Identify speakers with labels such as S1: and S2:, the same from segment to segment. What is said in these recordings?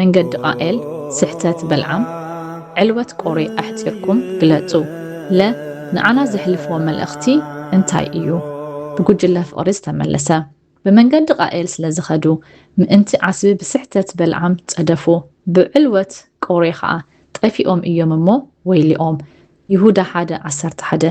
S1: መንገዲ ቃኤል፣ ስሕተት በልዓም፣ ዕልወት ቆሬ ኣሕጺርኩም ግለጹ። ለ። ንዓና ዘሕልፎ መልእኽቲ እንታይ እዩ? ብጉጅለ ፍቕሪ ዝተመለሰ። ብመንገዲ ቃኤል ስለ ዝኸዱ፣ ምእንቲ ዓስቢ ብስሕተት በልዓም ጸደፉ፣ ብዕልወት ቆሬ ኸኣ ጠፊኦም እዮም እሞ ወይልኦም። ይሁዳ ሓደ ዓሰርተ ሓደ።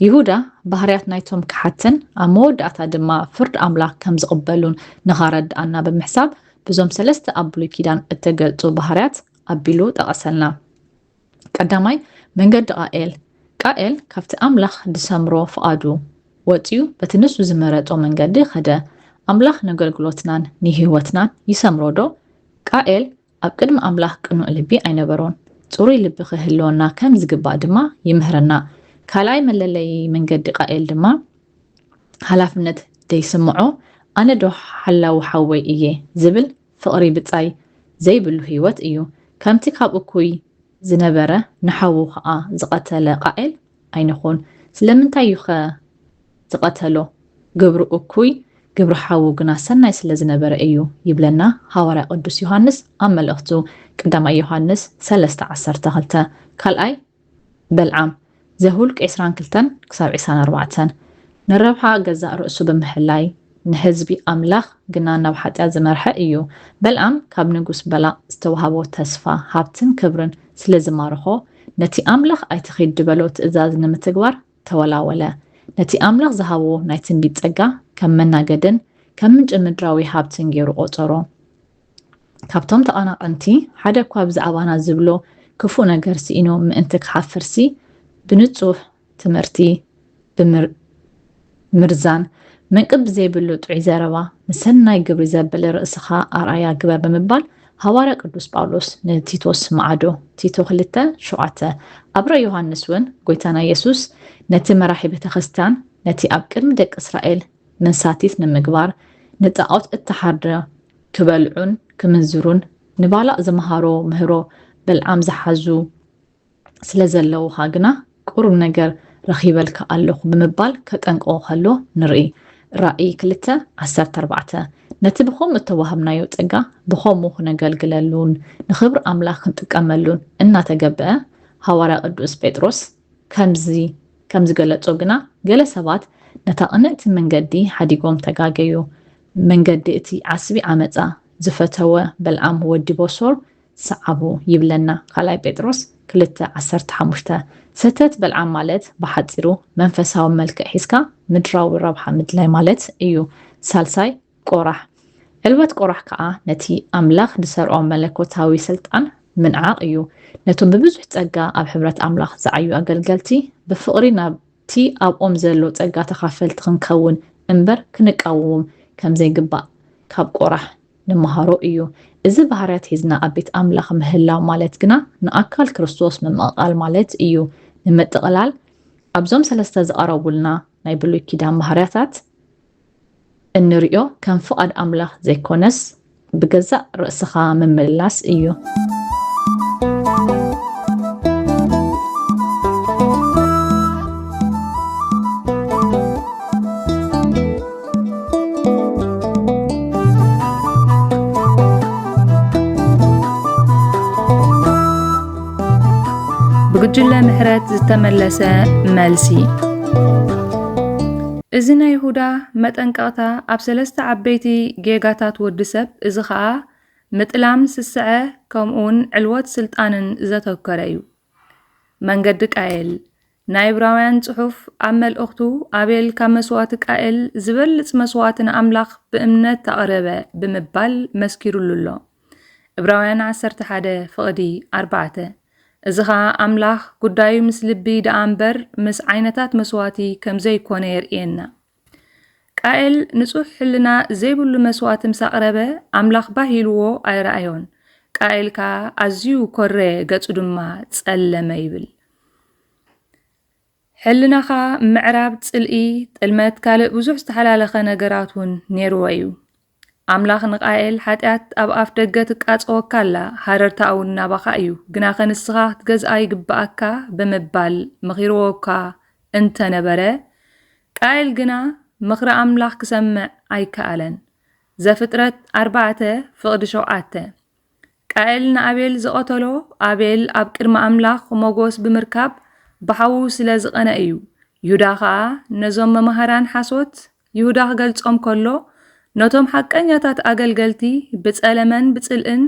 S1: ይሁዳ ባህርያት ናይቶም ከሓድትን ኣብ መወዳእታ ድማ ፍርድ ኣምላክ ከም ዝቕበሉን ንኻረድኣና ብምሕሳብ ብዞም ሰለስተ ኣብ ብሉይ ኪዳን እተገልጹ ባህርያት ኣቢሉ ጠቐሰልና። ቀዳማይ መንገዲ ቃኤል ቃኤል ካብቲ ኣምላኽ ድሰምሮ ፍቓዱ ወጺኡ በቲ ንሱ ዝመረጾ መንገዲ ኸደ። ኣምላኽ ነገልግሎትናን ንህይወትናን ይሰምሮዶ? ቃኤል ኣብ ቅድሚ ኣምላኽ ቅኑዕ ልቢ ኣይነበሮን። ጽሩይ ልቢ ኺህልወና ከም ዚግባእ ድማ ይምህረና። ካልኣይ መለለዪ መንገዲ ቃኤል ድማ፣ ሓላፍነት ደይስምዖ፣ ኣነዶ ሓላዊ ሓወይ እየ ዚብል ፍቕሪ ብጻይ ዘይብሉ ህይወት እዩ። ከምቲ ኻብ እኩይ ዝነበረ ንሓዉ ኸኣ ዝቐተለ ቃኤል፣ ኣይንኹን ስለምንታይ እዩኸ ዝቐተሎ ግብሩ እኩይ ግብሪ ሓዉ ግና ሰናይ ስለ ዝነበረ እዩ ይብለና ሃዋርያ ቅዱስ ዮሃንስ ኣብ መልእኽቱ ቀዳማይ ዮሃንስ ሰለስተ ዓሰርተ ክልተ ካልኣይ በልዓም ዘሁልቅ ዕስራን ክልተን ክሳብ ዕስራን ኣርባዕተን ንረብሓ ገዛእ ርእሱ ብምሕላይ ንህዝቢ ኣምላኽ ግና ናብ ሓጢኣት ዝመርሐ እዩ። በልኣም ካብ ንጉስ በላቕ ዝተዋህቦ ተስፋ፣ ሃብትን ክብርን ስለ ዝማረኾ፣ ነቲ ኣምላኽ ኣይትኺድ ዝበሎ ትእዛዝ ንምትግባር ተወላወለ። ነቲ ኣምላኽ ዝሃቦ ናይ ትንቢት ጸጋ ከም መናገድን ከም ምንጪ ምድራዊ ሃብትን ገይሩ ቈጸሮ። ካብቶም ተቐናቐንቲ ሓደ እኳ ብዛዕባና ዝብሎ ክፉእ ነገር ስኢኑ ምእንቲ ክሓፍርሲ፣ ብንጹህ፣ ትምህርቲ ብምምርዛን መንቅብ ብዘይብሉ ጥዑይ ዘረባ ንሰናይ ግብሪ ዘብል ርእስኻ ኣርኣያ ግበር ብምባል ሃዋርያ ቅዱስ ጳውሎስ ንቲቶስ መዓዶ ቲቶ ክልተ ሸውዓተ ኣብ ራእይ ዮሃንስ እውን ጐይታና ኢየሱስ ነቲ መራሒ ቤተ ክርስቲያን ነቲ ኣብ ቅድሚ ደቂ እስራኤል መንሳቲት ንምግባር ንጣዖት እተሓርደ ክበልዑን ክምንዝሩን ንባላእ ዝመሃሮ ምህሮ በልዓም ዝሓዙ ስለ ዘለዉኻ ግና ቁሩብ ነገር ረኺበልካ ኣለኹ ብምባል ከጠንቅቖ ከሎ ንርኢ፣ ራእይ ክልተ ዓሰርተ ኣርባዕተ። ነቲ ብኸምኡ እተዋህብናዮ ጸጋ ብኸምኡ ኽነገልግለሉን ንኽብሪ ኣምላኽ ክንጥቀመሉን እናተገብኣ፣ ሃዋርያ ቅዱስ ጴጥሮስ ከምዚ ከም ዝገለጾ ግና ገለ ሰባት ነታ ቕንእቲ መንገዲ ሓዲጎም ተጋገዩ፣ መንገዲ እቲ ዓስቢ ዓመጻ ዝፈተወ በልዓም ወዲ ቦሶር ሰዓቡ ይብለና ካልኣይ ጴጥሮስ ክልተ ዓሰርተ ሓሙሽተ። ሰተት በልዓም ማለት ብሓጺሩ መንፈሳዊ መልክዕ ሒዝካ ምድራዊ ረብሓ ምድላይ ማለት እዩ። ሳልሳይ ቆራሕ። ዕልወት ቆራሕ ከኣ ነቲ ኣምላኽ ዝሰርዖ መለኮታዊ ስልጣን ምንዓቕ እዩ። ነቶም ብብዙሕ ጸጋ ኣብ ሕብረት ኣምላኽ ዝዓዩ ኣገልገልቲ ብፍቕሪ ናብ እቲ ኣብኦም ዘሎ ጸጋ ተኻፈልቲ ክንከውን እምበር ክንቃወዎም ከምዘይግባእ ካብ ቆራሕ ንመሃሮ እዩ። እዚ ባህርያት ሒዝና ኣብ ቤት ኣምላኽ ምህላው ማለት ግና ንኣካል ክርስቶስ ምምቕቓል ማለት እዩ። ንምጥቕላል፣ ኣብዞም ሰለስተ ዝቐረቡልና ናይ ብሉይ ኪዳን ባህርያታት እንርእዮ ከም ፍቓድ ኣምላኽ ዘይኮነስ ብገዛእ ርእስኻ ምምልላስ እዩ።
S2: ብጉጅለ ምሕረት ዝተመለሰ መልሲ እዚ ናይ ይሁዳ መጠንቀቕታ ኣብ ሰለስተ ዓበይቲ ጌጋታት ወዲ ሰብ እዚ ኸኣ ምጥላም ስስዐ ከምኡውን ዕልወት ስልጣንን ዘተኮረ እዩ። መንገዲ ቃየል ናይ ዕብራውያን ጽሑፍ ኣብ መልእኽቱ፣ ኣቤል ካብ መስዋእቲ ቃኤል ዝበልጽ መስዋእቲ ንኣምላኽ ብእምነት ኣቕረበ ብምባል መስኪሩሉ ኣሎ። ዕብራውያን ዓሰርተ ሓደ ፍቕዲ ኣርባዕተ እዚ ኸኣ ኣምላኽ ጉዳዩ ምስ ልቢ ደኣ እምበር ምስ ዓይነታት መስዋእቲ ከም ዘይኰነ የርእየና። ቃኤል ንጹህ ሕልና ዘይብሉ መስዋእቲ ምስ ኣቕረበ፣ ኣምላኽ ባህ ኢልዎ ኣይረኣዮን። ቃኤል ከኣ ኣዝዩ ኰረየ፣ ገጹ ድማ ጸለመ ይብል። ሕልናኻ ምዕራብ፣ ጽልኢ፣ ጥልመት፣ ካልእ ብዙሕ ዝተሓላለኸ ነገራት እውን ነይርዎ እዩ። ኣምላኽ ንቃኤል ሓጢኣት ኣብ ኣፍ ደገ ትቃጸወካ ኣላ፣ ሃረርታኣውን ናባኻ እዩ፣ ግናኸ ንስኻ ክትገዝኣ ይግብኣካ ብምባል መኺርዎ'ኳ እንተ ነበረ፣ ቃኤል ግና ምኽሪ ኣምላኽ ክሰምዕ ኣይከኣለን። ዘፍጥረት ኣርባዕተ ፍቕዲ ሸውዓተ። ቃኤል ንኣቤል ዝቐተሎ፣ ኣቤል ኣብ ቅድሚ ኣምላኽ ሞገስ ብምርካብ ብሓዉ ስለ ዝቐንኣ እዩ። ይሁዳ ኸኣ ነዞም መማህራን ሓሶት ይሁዳ ክገልጾም ከሎ፣ ነቶም ሓቀኛታት ኣገልገልቲ ብጸለመን ብጽልእን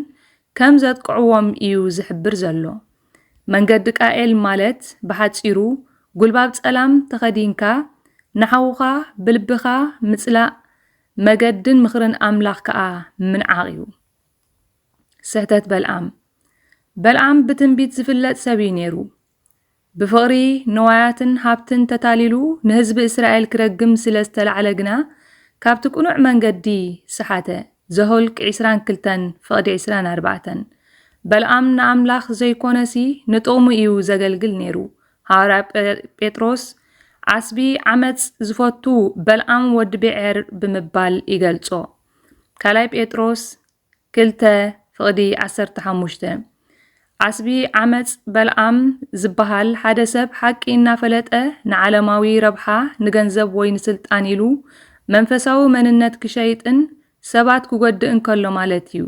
S2: ከም ዘጥቅዕዎም እዩ ዝሕብር ዘሎ። መንገዲ ቃኤል ማለት ብሓጺሩ ጉልባብ ጸላም ተኸዲንካ ንሓውኻ ብልብኻ ምጽላእ መገድን ምኽርን ኣምላኽ ከኣ ምንዓቕ እዩ። ስሕተት በልዓም በልዓም ብትንቢት ዝፍለጥ ሰብ እዩ ነይሩ። ብፍቕሪ ንዋያትን ሃብትን ተታሊሉ ንህዝቢ እስራኤል ክረግም ስለ ዝተላዕለ ግና ካብቲ ቅኑዕ መንገዲ ሰሓተ። ዘሆልቅ ዕስራን ክልተን ፍቕዲ ዕስራን ኣርባዕተን በልኣም ንኣምላኽ ዘይኮነሲ ንጥቕሙ እዩ ዘገልግል ነይሩ። ሃዋርያ ጴጥሮስ ዓስቢ ዓመፅ ዝፈቱ በልኣም ወዲ ብዔር ብምባል ይገልጾ። ካልኣይ ጴጥሮስ ክልተ ፍቕዲ ዓሰርተ ሓሙሽተ ዓስቢ ዓመፅ በልዓም ዝበሃል ሓደ ሰብ ሓቂ እናፈለጠ ንዓለማዊ ረብሓ ንገንዘብ ወይ ንስልጣን ኢሉ መንፈሳዊ መንነት ክሸይጥን ሰባት ክጎድእ እንከሎ ማለት እዩ።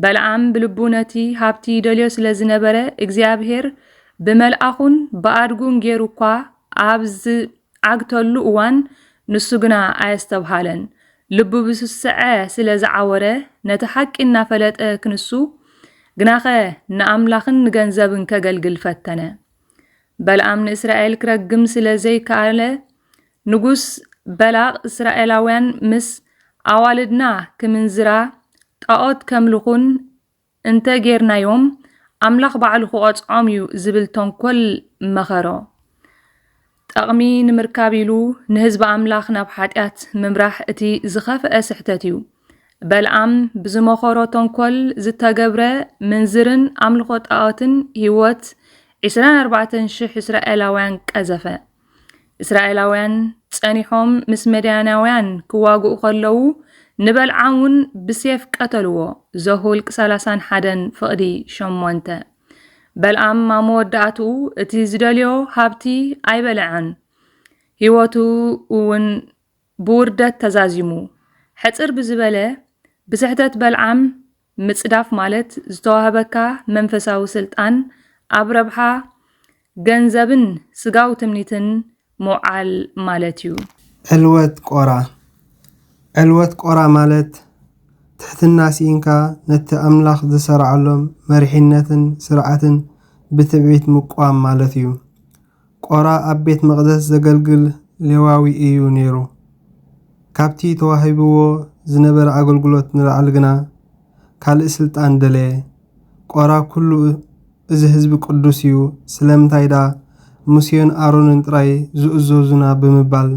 S2: በልዓም ብልቡ ነቲ ሃብቲ ይደልዮ ስለ ዝነበረ እግዚኣብሄር ብመልኣኹን ብኣድጉን ጌሩ እኳ ኣብ ዓግተሉ እዋን ንሱ ግና ኣየስተብሃለን። ልቡ ብስስዐ ስለ ዝዓወረ ነቲ ሓቂ እናፈለጠ ክንሱ ግናኸ ንኣምላኽን ንገንዘብን ከገልግል ፈተነ። በልኣም ንእስራኤል ክረግም ስለ ዘይከኣለ ንጉስ በላቕ እስራኤላውያን ምስ ኣዋልድና ክምንዝራ ጣዖት ከምልኹን እንተ ጌርናዮም ኣምላኽ ባዕሉ ክቐጽዖም እዩ ዝብል ተንኮል መኸሮ። ጠቕሚ ንምርካብ ኢሉ ንህዝቢ ኣምላኽ ናብ ሓጢኣት ምምራሕ እቲ ዝኸፍአ ስሕተት እዩ። በልኣም ብዝመኸሮ ተንኮል ዝተገብረ ምንዝርን ኣምልኾ ጣኦትን ህይወት ዕስራን ኣርባዕተን ሽሕ እስራኤላውያን ቀዘፈ። እስራኤላውያን ጸኒሖም ምስ መድያናውያን ክዋግኡ ከለዉ ንበልዓም እውን ብሴፍ ቀተልዎ ዘሁልቅ ሰላሳን ሓደን ፍቕዲ ሸሞንተ በልኣም ኣብ መወዳእትኡ እቲ ዝደልዮ ሃብቲ ኣይበልዐን ህይወቱ እውን ብውርደት ተዛዚሙ ሕፅር ብዝበለ ብስሕተት በልዓም ምጽዳፍ ማለት ዝተዋህበካ መንፈሳዊ ስልጣን ኣብ ረብሓ ገንዘብን ስጋዊ ትምኒትን ምውዓል ማለት እዩ። ዕልወት ቆራ
S3: ዕልወት ቆራ ማለት ትሕትና ሲኢንካ ነቲ ኣምላኽ ዝሰራዓሎም መሪሒነትን ስርዓትን ብትዕቢት ምቅዋም ማለት እዩ። ቆራ ኣብ ቤት መቕደስ ዘገልግል ሌዋዊ ኢዩ ነይሩ። ካብቲ ተዋሂብዎ ዝነበረ ኣገልግሎት ንላዕሊ ግና፣ ካልእ ስልጣን ደለየ። ቆራ ኵሉ እዚ ህዝቢ ቅዱስ ኢዩ፣ ስለምንታይ ደኣ ሙሴን ኣሮንን ጥራይ ዝእዘዙና ብምባል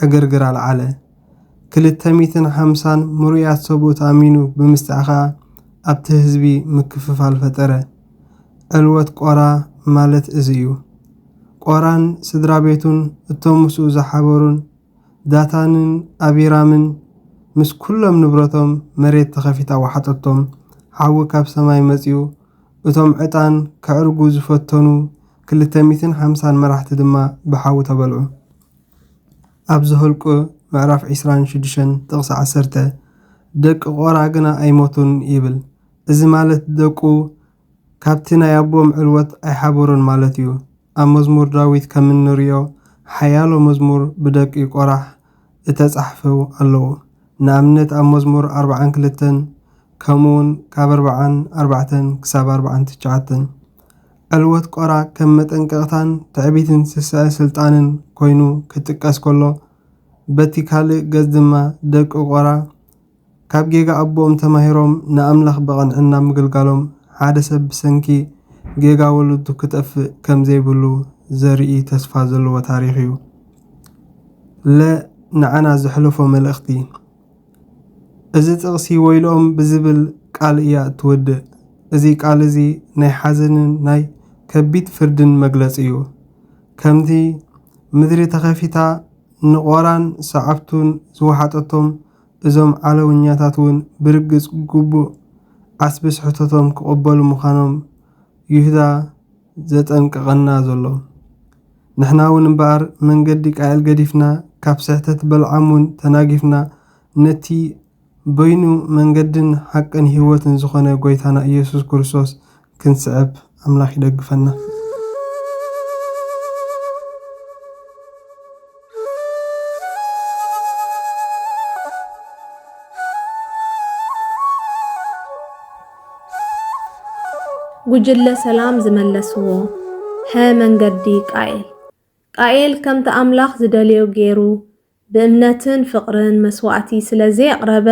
S3: ዕግርግር ኣልዓለ። ክልተ ሚእትን ሓምሳን ምሩያት ሰብኡት ኣሚኑ ብምስጣሕ ኸኣ ኣብቲ ህዝቢ ምክፍፋል ፈጠረ። ዕልወት ቆራ ማለት እዚ እዩ። ቆራን ስድራቤቱን እቶም ምስኡ ዝሓበሩን ዳታንን ኣቢራምን ምስ ኩሎም ንብረቶም መሬት ተኸፊታ ወሓጠቶም፣ ሓዊ ካብ ሰማይ መጺኡ፣ እቶም ዕጣን ከዕርጉ ዝፈተኑ ክልተ ሚእትን ሓምሳን መራሕቲ ድማ ብሓዊ ተበልዑ። ኣብ ዘኍልቍ ምዕራፍ ዕስራን ሽዱሽተን ጥቕሲ ዓሰርተ፣ ደቂ ቆራ ግና ኣይሞቱን ይብል። እዚ ማለት ደቁ ካብቲ ናይ ኣቦኦም ዕልወት ኣይሓበሩን ማለት እዩ። ኣብ መዝሙር ዳዊት ከም እንርእዮ ሓያሎ መዝሙር ብደቂ ቆራሕ እተጻሕፉ ኣለዉ። ንኣብነት ኣብ መዝሙር ኣርብዓን ክልተን ከምኡውን ካብ ኣርብዓን ኣርባዕተን ክሳብ ኣርብዓን ትሽዓተን። ዕልወት ቆራ ከም መጠንቀቕታን ትዕቢትን ስስዐ ስልጣንን ኮይኑ ክጥቀስ ከሎ በቲ ካልእ ገጽ ድማ ደቂ ቆራ ካብ ጌጋ ኣቦኦም ተማሂሮም ንኣምላኽ ብቕንዕና ምግልጋሎም ሓደ ሰብ ብሰንኪ ጌጋ ወለዱ ክጠፍእ ከም ዘይብሉ ዘርኢ ተስፋ ዘለዎ ታሪኽ እዩ። ለ ንዓና ዘሕለፎ መልእኽቲ እዚ ጥቕሲ ወይልኦም ብዝብል ቃል እያ እትወድእ። እዚ ቃል እዚ ናይ ሓዘንን ናይ ከቢድ ፍርድን መግለጺ እዩ። ከምቲ ምድሪ ተኸፊታ ንቆራን ሰዓብቱን ዝወሓጠቶም፣ እዞም ዓለውኛታት ውን ብርግጽ ግቡእ ዓስቢ ስሕተቶም ክቕበሉ ምዃኖም ይሁዳ ዘጠንቅቐና ዘሎ። ንሕና ውን እምበኣር መንገዲ ቃኤል ገዲፍና ካብ ስሕተት በልዓም ውን ተናጊፍና ነቲ በይኑ መንገድን ሓቅን ህይወትን ዝኾነ ጎይታና ኢየሱስ ክርስቶስ ክንስዕብ ኣምላክ ይደግፈና።
S4: ጉጅለ ሰላም ዝመለስዎ ሐ መንገዲ ቃኤል ቃኤል ከምቲ ኣምላኽ ዝደልዮ ጌሩ ብእምነትን ፍቕርን መስዋእቲ ስለ ዘየቕረበ፣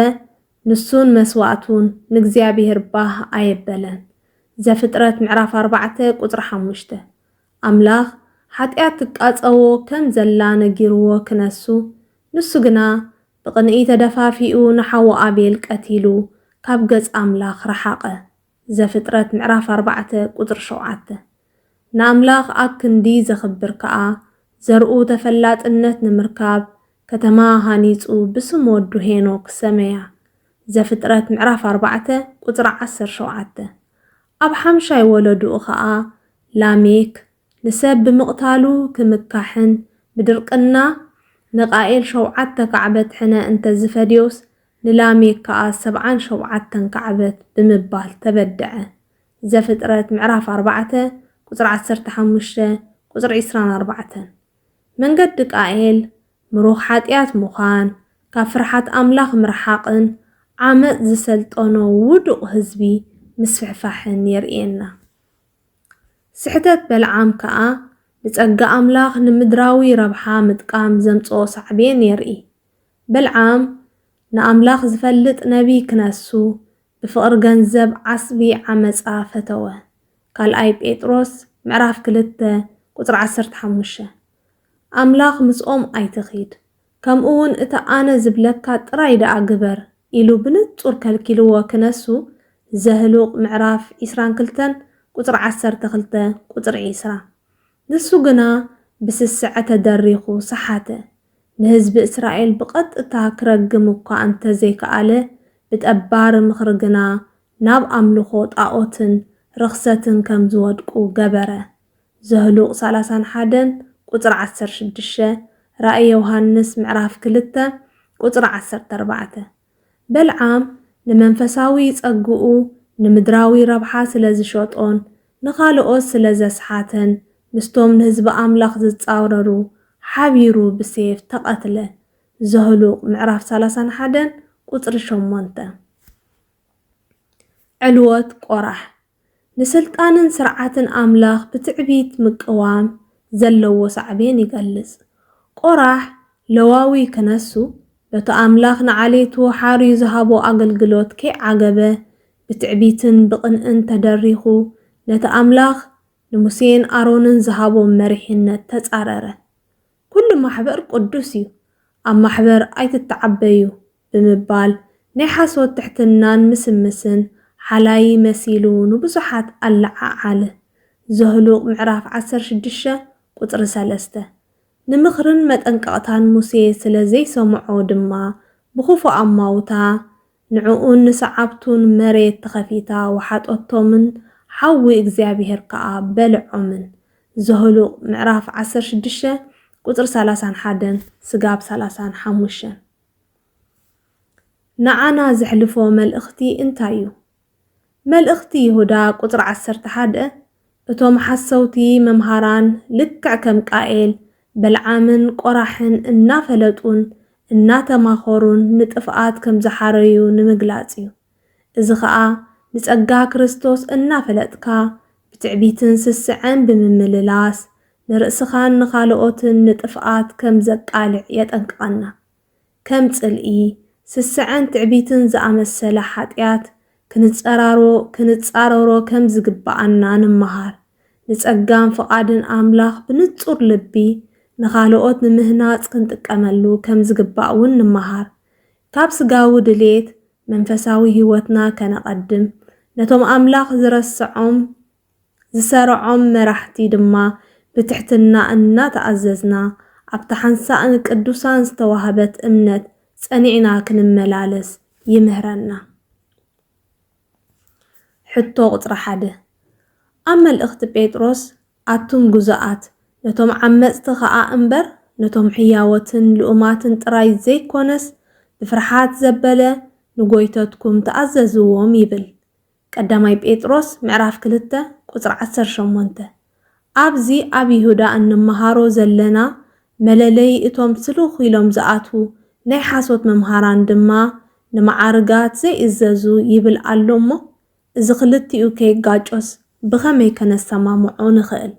S4: ንሱን መስዋእቱን ንእግዚኣብሄር ባህ ኣየበለን። ዘፍጥረት ምዕራፍ ኣርባዕተ ቁጽሪ ሓሙሽተ። ኣምላኽ ሓጢኣት ትቃጸዎ ከም ዘላ ነጊርዎ ክነሱ፣ ንሱ ግና ብቕንኢ ተደፋፊኡ ንሓዉ ኣቤል ቀቲሉ ካብ ገጽ ኣምላኽ ረሓቐ። ዘፍጥረት ምዕራፍ ኣርባዕተ ቁጽሪ ሸውዓተ ንኣምላኽ ኣብ ክንዲ ዘኽብር ከኣ ዘርኡ ተፈላጥነት ንምርካብ ከተማ ሃኒጹ ብስም ወዱ ሄኖክ ሰመያ ዘፍጥረት ምዕራፍ ኣርባዕተ ቁጽሪ ዓሰርተ ሸውዓተ ኣብ ሓምሻይ ወለዱኡ ከኣ ላሜክ ንሰብ ብምቕታሉ ክምካሕን ብድርቅና ንቃኤል ሸውዓተ ካዕበት ሕነ እንተዝፈድዮስ ንላሜክ ከኣ ሰብዓን ሾብዓተን ካዕበት ብምባል ተበድዐ። ዘፍጥረት ምዕራፍ ኣርባዕተ ቁጽሪ ዓሰርተ ሓሙሽተ ቁጽሪ ዕስራን ኣርባዕተን። መንገዲ ቃኤል ምሩኽ ሓጥያት ምዃን፣ ካብ ፍርሓት ኣምላኽ ምርሓቕን ዓመጽ ዝሰልጠኖ ውዱቕ ህዝቢ ምስፍሕፋሕን የርእየና። ስሕተት በልዓም ከኣ ንጸጋ ኣምላኽ ንምድራዊ ረብሓ ምጥቃም ዘምጽኦ ሳዕቤን የርኢ። ብልዓም ንኣምላኽ ዝፈልጥ ነብዪ ክነሱ፣ ብፍቕሪ ገንዘብ ዓስቢ ዓመጻ ፈተወ። ካልኣይ ጴጥሮስ ምዕራፍ ክልተ ቁጽሪ ዓሰርተ ሓሙሽተ። ኣምላኽ ምስኦም ኣይትኺድ፣ ከምኡውን እቲ ኣነ ዝብለካ ጥራይ ደኣ ግበር ኢሉ ብንጹር ከልኪልዎ ክነሱ፣ ዘህሉቕ ምዕራፍ ዕስራን ክልተን ቁጽሪ ዓሰርተ ክልተ ቁጽሪ ዕስራ። ንሱ ግና ብስስዐ ተደሪኹ ሰሓተ። ንህዝቢ እስራኤል ብቐጥታ ክረግም እኳ እንተ ዘይከኣለ፣ ብጠባሪ ምኽሪ ግና ናብ ኣምልኾ ጣኦትን ርኽሰትን ከም ዝወድቁ ገበረ። ዘህሉቕ ሰላሳን ሓደን ቁጽሪ ዓሰርተ ሽዱሽተ፣ ራእይ ዮሃንስ ምዕራፍ ክልተ ቁጽሪ ዓሰርተ ኣርባዕተ። በልዓም ንመንፈሳዊ ጸግኡ ንምድራዊ ረብሓ ስለ ዝሸጦን ንኻልኦት ስለ ዘስሓተን ምስቶም ንህዝቢ ኣምላኽ ዝጻረሩ ሓቢሩ ብሴፍ ተቐትለ። ዘኍሉቕ ምዕራፍ ሰላሳን ሓደን ቍጽሪ ሸሞንተ። ዕልወት ቈራሕ ንስልጣንን ስርዓትን ኣምላኽ ብትዕቢት ምቅዋም ዘለዎ ሳዕቤን ይገልጽ። ቆራሕ፣ ለዋዊ ክነሱ፣ በቲ ኣምላኽ ንዓሌቱ ሓርዩ ዝሃቦ ኣገልግሎት ከይዓገበ፣ ብትዕቢትን ብቕንእን ተደሪኹ፣ ነቲ ኣምላኽ ንሙሴን ኣሮንን ዝሃቦም መሪሕነት ተጻረረ። ኵሉ ማሕበር ቅዱስ እዩ፣ ኣብ ማሕበር ኣይትተዓበዩ ብምባል ናይ ሓሶት ትሕትናን ምስምስን ሓላዪ መሲሉ ንብዙሓት ኣለዓዓለ። ዘሁልቅ ምዕራፍ ዓሰርተ ሽዱሽተ ቁጽሪ ሰለስተ። ንምኽርን መጠንቀቕታን ሙሴ ስለ ዘይሰምዖ ድማ ብኽፉእ ኣማውታ ንዕኡን ንሰዓብቱን መሬት ተኸፊታ ወሓጦቶምን ሓዊ እግዚኣብሄር ከኣ በልዖምን። ዘሁልቅ ምዕራፍ ዓሰርተ ሽዱሽተ ቁጽሪ ሰላሳን ሓደን ስጋብ ሰላሳን ሓሙሽተን። ንዓና ዜሕልፎ መልእኽቲ እንታይ እዩ? መልእኽቲ ይሁዳ ቁጽሪ ዓሰርተ ሓደ እቶም ሓሰውቲ መምሃራን ልክዕ ከም ቃኤል፣ በልዓምን ቆራሕን እናፈለጡን እናተማኸሩን ንጥፍኣት ከም ዝሓረዩ ንምግላጽ እዩ። እዚ ኸኣ ንጸጋ ክርስቶስ እናፈለጥካ ብትዕቢትን ስስዐን ብምምልላስ ንርእስኻን ንኻልኦትን ንጥፍኣት ከም ዘቃልዕ የጠንቅቐና። ከም ጽልኢ፣ ስስዐን ትዕቢትን ዝኣመሰለ ሓጢኣት ክንጸራሮ ክንጻረሮ ከም ዝግብኣና ንመሃር። ንጸጋን ፍቓድን ኣምላኽ ብንጹር ልቢ ንኻልኦት ንምህናጽ ክንጥቀመሉ ከም ዝግባእ እውን ንመሃር። ካብ ስጋዊ ድሌት መንፈሳዊ ህይወትና ከነቐድም፣ ነቶም ኣምላኽ ዝረስዖም ዝሰርዖም መራሕቲ ድማ ብትሕትና እናተኣዘዝና፣ ኣብታ ሓንሳእ ንቅዱሳን ዝተዋህበት እምነት ጸኒዕና ክንመላለስ ይምህረና። ሕቶ ቁጽሪ ሓደ ኣብ መልእኽቲ ጴጥሮስ ኣቱም ግዙኣት፣ ነቶም ዓመጽቲ ኸኣ እምበር፣ ነቶም ሕያዎትን ልኡማትን ጥራይ ዘይኰነስ፣ ብፍርሓት ዘበለ ንጐይቶትኩም ተኣዘዝዎም ይብል። ቀዳማይ ጴጥሮስ ምዕራፍ ክልተ ቁጽሪ ዓሰርተ ሸሞንተ። ኣብዚ ኣብ ይሁዳ እንመሃሮ ዘለና መለለዪ እቶም ስሉኽ ኢሎም ዝኣትዉ ናይ ሓሶት መምሃራን ድማ ንመዓርጋት ዘይእዘዙ ይብል ኣሎ እሞ እዚ ክልቲኡ ከይጋጮስ ብኸመይ ከነሰማምዖ ንኽእል?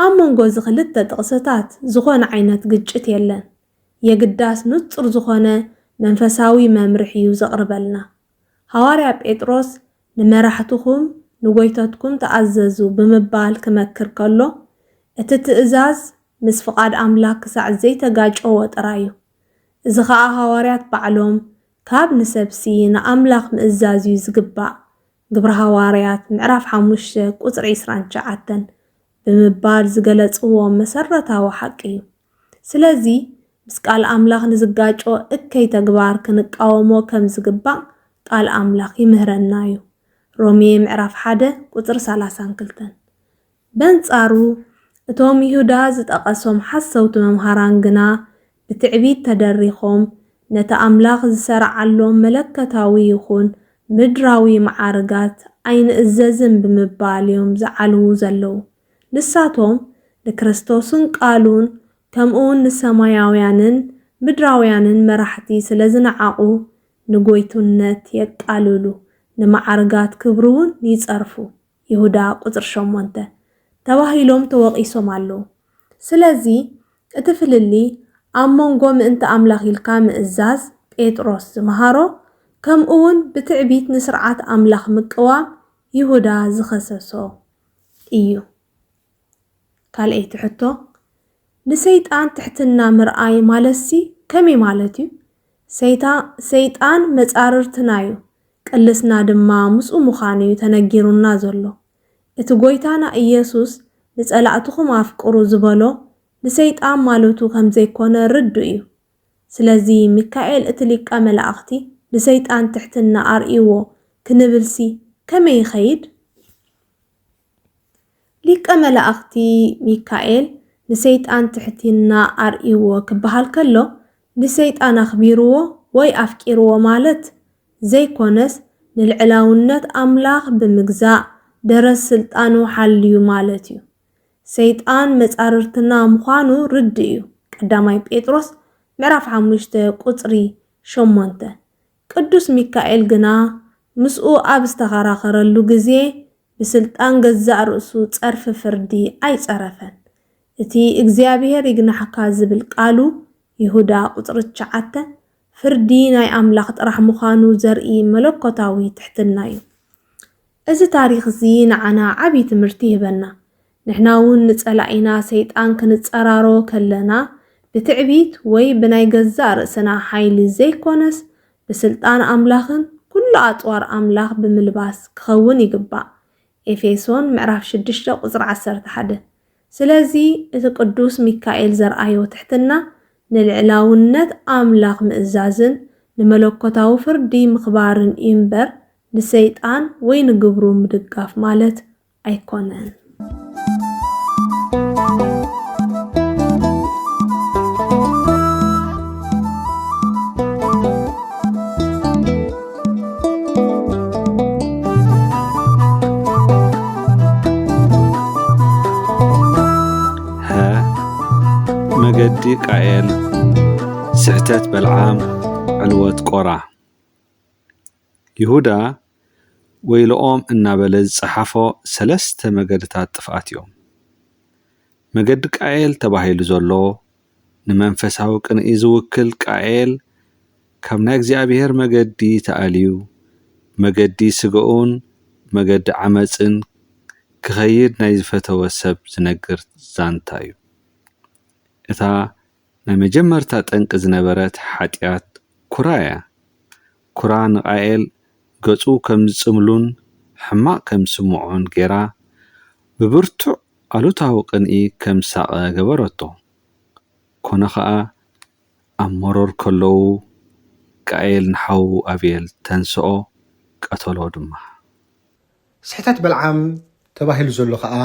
S4: ኣብ መንጎ እዚ ክልተ ጥቕስታት ዝኾነ ዓይነት ግጭት የለን፣ የግዳስ ንጹር ዝኾነ መንፈሳዊ መምርሒ እዩ ዘቕርበልና። ሃዋርያ ጴጥሮስ ንመራሕትኹም ንጎይተትኩም ተኣዘዙ ብምባል ክመክር ከሎ፣ እቲ ትእዛዝ ምስ ፍቓድ ኣምላኽ ክሳዕ ዘይተጋጨወ ጥራይ እዩ። እዚ ኸኣ ሃዋርያት ባዕሎም ካብ ንሰብሲ ንኣምላኽ ምእዛዝ እዩ ዝግባእ፣ ግብሪ ሃዋርያት ምዕራፍ ሓሙሽተ ቁጽሪ ዕስራን ትሽዓተን፣ ብምባል ዝገለጽዎ መሰረታዊ ሓቂ እዩ። ስለዚ ምስ ቃል ኣምላኽ ንዝጋጮ እከይ ተግባር ክንቃወሞ ከም ዝግባእ ቃል ኣምላኽ ይምህረና እዩ፣ ሮሜ ምዕራፍ ሓደ ቁጽሪ ሰላሳን ክልተን። በንጻሩ እቶም ይሁዳ ዝጠቐሶም ሓሰውቲ መምሃራን ግና ብትዕቢት ተደሪኾም ነቲ ኣምላኽ ዝሰርዓሎም መለኮታዊ ይኹን ምድራዊ መዓርጋት ኣይንእዘዝን ብምባል እዮም ዝዓልዉ ዘለዉ። ንሳቶም ንክርስቶስን ቃሉን ከምኡውን ንሰማያውያንን ምድራውያንን መራሕቲ ስለ ዝነዓቑ ንጐይትነት የቃልሉ፣ ንመዓርጋት ክብሩውን ይጸርፉ። ይሁዳ ቁጽሪ ሸሞንተ፣ ተባሂሎም ተወቒሶም ኣለዉ። ስለዚ እቲ ፍልልይ ኣብ መንጎ ምእንቲ ኣምላኽ ኢልካ ምእዛዝ፣ ጴጥሮስ ዝመሃሮ፣ ከምኡውን ብትዕቢት ንስርዓት ኣምላኽ ምቅዋም፣ ይሁዳ ዝኸሰሶ፣ ኢዩ። ካልኣይቲ ሕቶ፣ ንሰይጣን ትሕትና ምርኣይ ማለትሲ ከመይ ማለት ኢዩ? ሰይጣን መጻርርትናዩ፣ ቅልስና ድማ ምስኡ ምዃኑ እዩ ተነጊሩና ዘሎ። እቲ ጐይታና ኢየሱስ ንጸላእትኹም ኣፍቅሩ ዝበሎ ንሰይጣን ማለቱ ከም ዘይኮነ ርዱእ እዩ። ስለዚ ሚካኤል እቲ ሊቀ መላእኽቲ ንሰይጣን ትሕትና ኣርእይዎ ክንብልሲ ከመይ ይኸይድ? ሊቀ መላእኽቲ ሚካኤል ንሰይጣን ትሕቲና ኣርእይዎ ክበሃል ከሎ ንሰይጣን ኣኽቢርዎ ወይ ኣፍቂርዎ ማለት ዘይኮነስ ንልዕላውነት ኣምላኽ ብምግዛእ ደረት ስልጣኑ ሓልዩ ማለት እዩ። ሰይጣን መፃርርትና ምዃኑ ርድእ እዩ ቀዳማይ ጴጥሮስ ምዕራፍ ሓሙሽተ ቁፅሪ ሸሞንተ ቅዱስ ሚካኤል ግና ምስኡ ኣብ ዝተኸራኸረሉ ግዜ ብስልጣን ገዛእ ርእሱ ጸርፊ ፍርዲ ኣይጸረፈን። እቲ እግዚኣብሄር ይግናሕካ ዝብል ቃሉ፣ ይሁዳ ቁጽሪ ትሽዓተ፣ ፍርዲ ናይ ኣምላኽ ጥራሕ ምዃኑ ዘርኢ መለኮታዊ ትሕትና'ዩ። እዚ ታሪኽ'ዚ ንዓና ዓቢ ትምህርቲ ይህበና። ንሕና እውን ንጸላኢና ሰይጣን ክንጸራሮ ከለና ብትዕቢት ወይ ብናይ ገዛእ ርእስና ሓይሊ ዘይኮነስ ብስልጣን ኣምላኽን ኩሉ ኣጽዋር ኣምላኽ ብምልባስ ክኸውን ይግባእ ኤፌሶን ምዕራፍ ሽዱሽተ ቁጽሪ ዓሰርተ ሓደ ስለዚ እቲ ቅዱስ ሚካኤል ዘርኣዮ ትሕትና ንልዕላውነት ኣምላኽ ምእዛዝን ንመለኮታዊ ፍርዲ ምኽባርን እዩ እምበር ንሰይጣን ወይ ንግብሩ ምድጋፍ ማለት ኣይኮነን።
S5: መገዲ ቃኤል፣ ስሕተት በልዓም፣ ዕልወት ቆራ። ይሁዳ ወይልኦም እናበለ ዝጸሓፎ ሰለስተ መገድታት ጥፍኣት እዮም። መገዲ ቃኤል ተባሂሉ ዘሎ፣ ንመንፈሳዊ ቅንኢ ዝውክል ቃኤል ካብ ናይ እግዚኣብሔር መገዲ ተኣልዩ፣ ብመገዲ ስጋኡን ብመገዲ ዓመጽን ክኸይድ ናይ ዝፈተወ ሰብ ዝነግር ዛንታ እዩ። እታ ናይ መጀመርታ ጠንቂ ዝነበረት ሓጢኣት ኩራ እያ። ኩራ ንቃኤል ገጹ ከም ዝጽምሉን ሕማቕ ከም ዝስምዖን ገይራ ብብርቱዕ ኣሉታዊ ቅንኢ ከም ዝሳቐ ገበረቶ። ኰነ ኸኣ፣ ኣብ መሮር ከለዉ ቃኤል ንሓዉ ኣቤል ተንስኦ፣ ቀተሎ ድማ።
S6: ስሕተት በልዓም ተባሂሉ ዘሎ ከኣ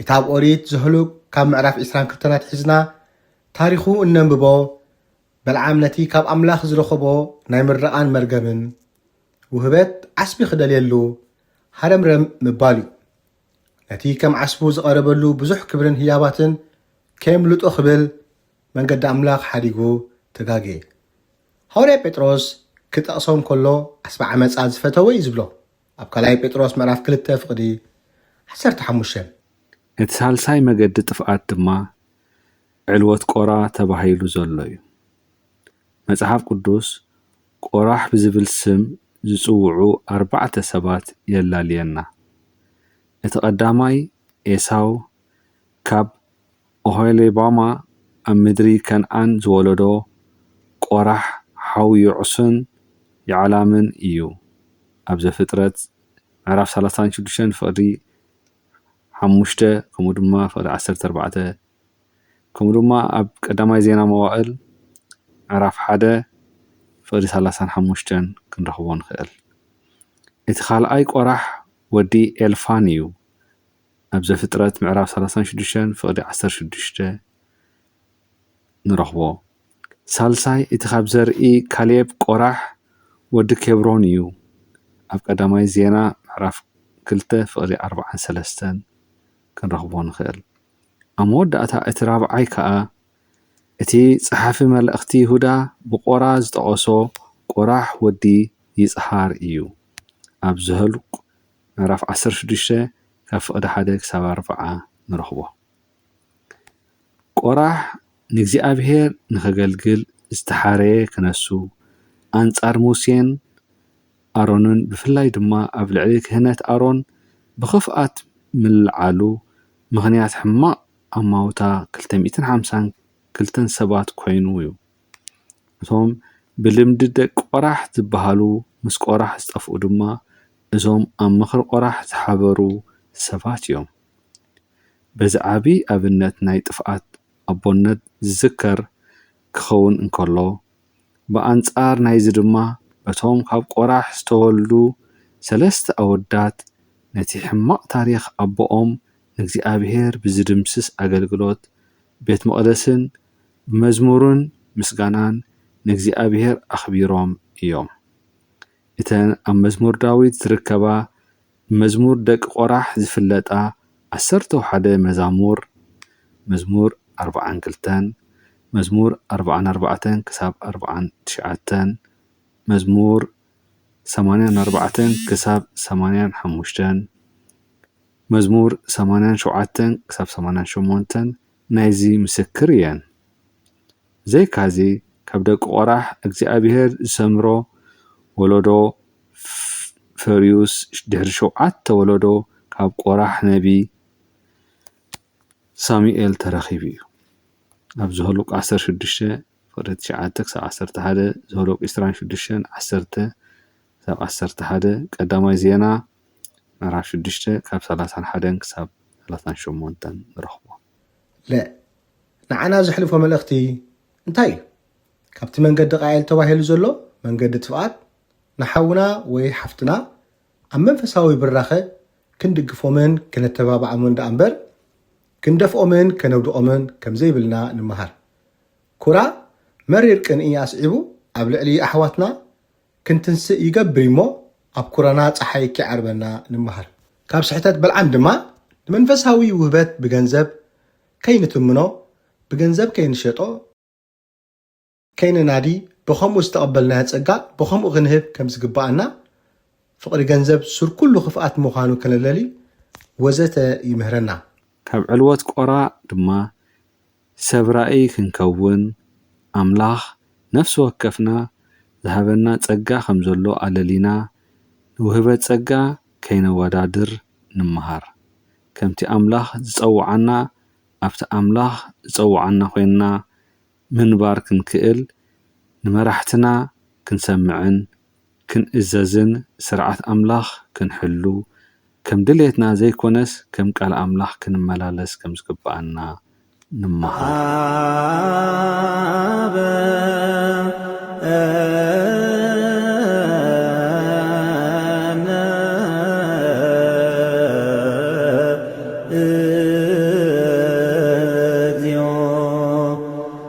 S6: እቲ ኣብ ኦሪት ዘህሉቅ ካብ ምዕራፍ ዕስራን ክልተን ኣትሒዝና ታሪኹ እነንብቦ በልዓም ነቲ ካብ ኣምላኽ ዝረኸቦ ናይ ምረቓን መርገምን ውህበት ዓስቢ ክደልየሉ ሃረምረም ምባሉ እዩ። ነቲ ከም ዓስቡ ዝቐረበሉ ብዙሕ ክብርን ህያባትን ከየምልጦ ክብል መንገዲ ኣምላኽ ሓዲጉ ተጋግየ። ሃዋርያ ጴጥሮስ ክጠቕሶም ከሎ ዓስቢ ዓመጻ ዝፈተወ እዩ ዝብሎም ኣብ ካልኣይ ጴጥሮስ ምዕራፍ ክልተ ፍቕዲ ዓሰርተ ሓሙሽተ።
S5: እቲ ሳልሳይ መገዲ ጥፍኣት ድማ ዕልወት ቆራ ተባሂሉ ዘሎ እዩ። መጽሓፍ ቅዱስ ቆራሕ ብዝብል ስም ዝጽውዑ ኣርባዕተ ሰባት የላልየና። እቲ ቀዳማይ ኤሳው ካብ ኦሆሊባማ ኣብ ምድሪ ከንኣን ዝወለዶ ቆራሕ ሓው የዑስን የዕላምን እዩ ኣብ ዘፍጥረት ምዕራፍ ሰላሳን ሽዱሽተን ፍቅዲ ሓሙሽተ ከምኡ ድማ ፍቅዲ ዓሰርተ ኣርባዕተ ከምኡ ድማ ኣብ ቀዳማይ ዜና መዋእል ምዕራፍ ሓደ ፍቅዲ ሰላሳን ሓሙሽተን ክንረኽቦ ንኽእል እቲ ካልኣይ ቆራሕ ወዲ ኤልፋን እዩ ኣብ ዘፍጥረት ምዕራፍ ሰላሳን ሽዱሽተን ፍቕዲ ዓሰርተ ሽዱሽተ ንረኽቦ። ሳልሳይ እቲ ኻብ ዘርኢ ካሌብ፣ ቆራሕ፣ ወዲ ኬብሮን እዩ። ኣብ ቀዳማይ ዜና ምዕራፍ ክልተ ፍቕዲ ኣርብዓን ሰለስተን ክንረኽቦ ንኽእል። ኣብ መወዳእታ እቲ ራብዓይ ከኣ እቲ ጸሓፊ መልእኽቲ ይሁዳ ብቆራ ዝጠቐሶ ቆራሕ ወዲ ይጽሃር እዩ። ኣብ ዘህልቁ ምዕራፍ ዓሰርተ ሽዱሽተ ካብ ፍቕዲ ሓደ ክሳብ ኣርብዓ ንረኽቦ። ቆራሕ ንእግዚኣብሄር ንኸገልግል ዝተሓረየ ክነሱ፣ ኣንጻር ሙሴን ኣሮንን ብፍላይ ድማ ኣብ ልዕሊ ክህነት ኣሮን ብኽፍኣት ምልዓሉ ምኽንያት ሕማቕ ኣማውታ ክልተ ሚእትን ሓምሳን ክልተን ሰባት ኮይኑ'ዩ። እቶም ብልምዲ ደቂ ቆራሕ ዝባሃሉ ምስ ቆራሕ ዝጠፍኡ ድማ እዞም ኣብ ምክሪ ቆራሕ ዝሓበሩ ሰባት እዮም። በዚ ዓቢ ኣብነት ናይ ጥፍኣት ኣቦነት ዝዝከር ክከውን እንከሎ ብኣንጻር ናይዚ ድማ በቶም ካብ ቆራሕ ዝተወልዱ ሰለስተ ኣወዳት ነቲ ሕማቅ ታሪክ ኣቦኦም ንእግዚኣብሄር ብዝድምስስ ኣገልግሎት ቤት መቅደስን ብመዝሙርን ምስጋናን ንእግዚኣብሄር ኣኽቢሮም እዮም። እተን ኣብ መዝሙር ዳዊት ዚርከባ ብመዝሙር ደቂ ቈራሕ ዚፍለጣ ዓሰርተው ሓደ መዛሙር፣ መዝሙር ኣርብዓን ክልተን፣ መዝሙር ኣርብዓን ኣርባዕተን ክሳብ ኣርብዓን ትሽዓተን፣ መዝሙር ሰማንያን ኣርባዕተን ክሳብ ሰማንያን ሓሙሽተን፣ መዝሙር ሰማንያን ሸውዓተን ክሳብ ሰማንያን ሸሞንተን፣ ናይዚ ምስክር እየን። ብዘይካዚ ካብ ደቂ ቈራሕ እግዚኣብሄር ዝሰምሮ ወለዶ ፈርዩስ ድሕሪ ሸውዓተ ወለዶ ካብ ቈራሕ ነቢ ሳሙኤል ተረኺቡ እዩ። ኣብ ዘኍልቍ ዓሰርተ ሽዱሽተ ፍቕዲ ትሽዓተ ክሳብ ዓሰርተ ሓደ፣ ዘኍልቍ ዕስራን ሽዱሽተን ዓሰርተ፣ ክሳብ ዓሰርተ ሓደ፣ ቀዳማይ ዜና ምዕራፍ ሽዱሽተ ካብ ሰላሳን ሓደን ክሳብ ሰላሳን ሸሞንተን ንረኽቦ። ለ።
S6: ንዓና ዘሕልፎ መልእኽቲ እንታይ እዩ? ካብቲ መንገዲ ቃኤል ተባሂሉ ዘሎ መንገዲ ጥፍኣት ንሓውና ወይ ሓፍትና ኣብ መንፈሳዊ ብራኸ ክንድግፎምን ከነተባብዓምን ደኣ እምበር ክንደፍኦምን ከነውድቖምን ከም ዘይብልና ንመሃር። ኩራ መሪር ቅንኢ ኣስዒቡ ኣብ ልዕሊ ኣሕዋትና ክንትንስእ ይገብር እዩሞ ኣብ ኩረና ጸሓይ ኪዓርበና ንመሃር። ካብ ስሕተት በልዓም ድማ ንመንፈሳዊ ውህበት ብገንዘብ ከይንትምኖ ብገንዘብ ከይንሸጦ፣ ከይንናዲ ብኸምኡ ዝተቐበልናዮ ጸጋ ብኸምኡ ክንህብ ከም ዝግብኣና ፍቕሪ ገንዘብ ሱር ኩሉ ክፍኣት ምዃኑ ከነለሊ ወዘተ ይምህረና። ካብ ዕልወት
S5: ቆራ ድማ ሰብ ራእይ ክንከውን ኣምላኽ ነፍሲ ወከፍና ዝሃበና ጸጋ ከም ዘሎ ኣለሊና ንውህበት ጸጋ ከይነወዳድር ንመሃር። ከምቲ ኣምላኽ ዝጸውዓና ኣብቲ ኣምላኽ ዝጸውዓና ኮይንና ምንባር ክንክእል ንመራሕትና ክንሰምዕን ክንእዘዝን ስርዓት ኣምላኽ ክንሕሉ ከም ድሌትና ዘይኮነስ ከም ቃል ኣምላኽ ክንመላለስ ከም ዝግብኣና ንመሃር።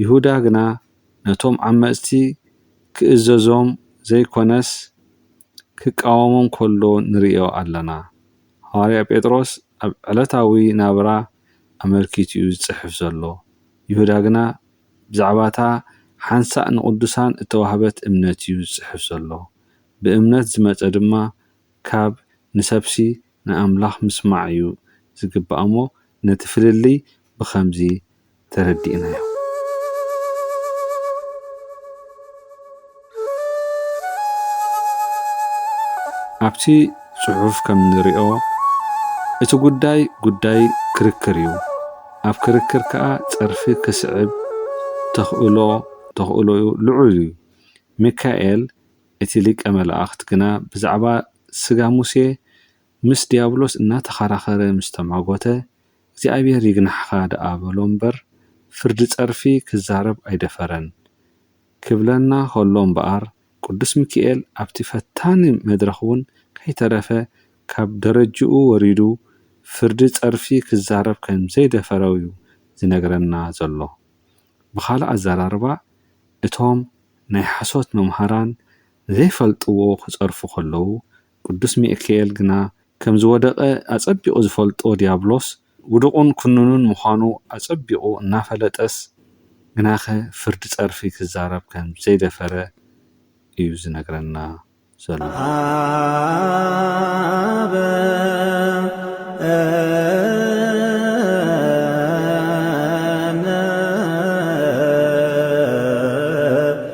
S5: ይሁዳ ግና ነቶም ዓመጽቲ ክእዘዞም ዘይኰነስ ክቃወሞም ከሎ ንርእዮ ኣለና። ሃዋርያ ጴጥሮስ ኣብ ዕለታዊ ናብራ ኣመልኪቱ'ዩ ዝጽሕፍ ዘሎ፣ ይሁዳ ግና ብዛዕባ'ታ ሓንሳእ ንቕዱሳን እተዋህበት እምነት'ዩ ዝጽሕፍ ዘሎ። ብእምነት ዝመጸ ድማ ካብ ንሰብሲ ንኣምላኽ ምስማዕ'ዩ ዝግባእ'ሞ ነቲ ፍልልይ ብኸምዚ ተረዲእናዮ። ኣብቲ ጽሑፍ ከም እንሪኦ እቲ ጉዳይ ጉዳይ ክርክር እዩ። ኣብ ክርክር ከኣ ጸርፊ ክስዕብ ተኽእሎ ተኽእሎኡ ልዑል እዩ። ሚካኤል እቲ ሊቀ መላእኽት ግና ብዛዕባ ስጋ ሙሴ ምስ ድያብሎስ እናተኸራኸረ ምስ ተማጐተ፣ እግዚኣብሄር ይግናሕኻ ደኣ በሎ እምበር፣ ፍርዲ ጸርፊ ክዛረብ ኣይደፈረን። ክብለና ኸሎ እምበኣር፣ ቅዱስ ሚኪኤል ኣብቲ ፈታኒ መድረኽ እውን ከይተረፈ ካብ ደረጅኡ ወሪዱ ፍርዲ ጸርፊ ክዛረብ ከም ዘይደፈረ'ዩ ዝነግረና ዘሎ። ብኻልእ ኣዘራርባ፣ እቶም ናይ ሓሶት መምሃራን ንዘይፈልጥዎ ክጸርፉ ኸለዉ፣ ቅዱስ ሚእክኤል ግና ከም ዝወደቐ ኣጸቢቑ ዝፈልጦ ዲያብሎስ ውዱቑን ኩኑኑን ምዃኑ ኣጸቢቑ እናፈለጠስ ግናኸ ፍርዲ ጸርፊ ክዛረብ ከም ዘይደፈረ እዩ ዝነግረና ዘሎ። ኣበ እምነ።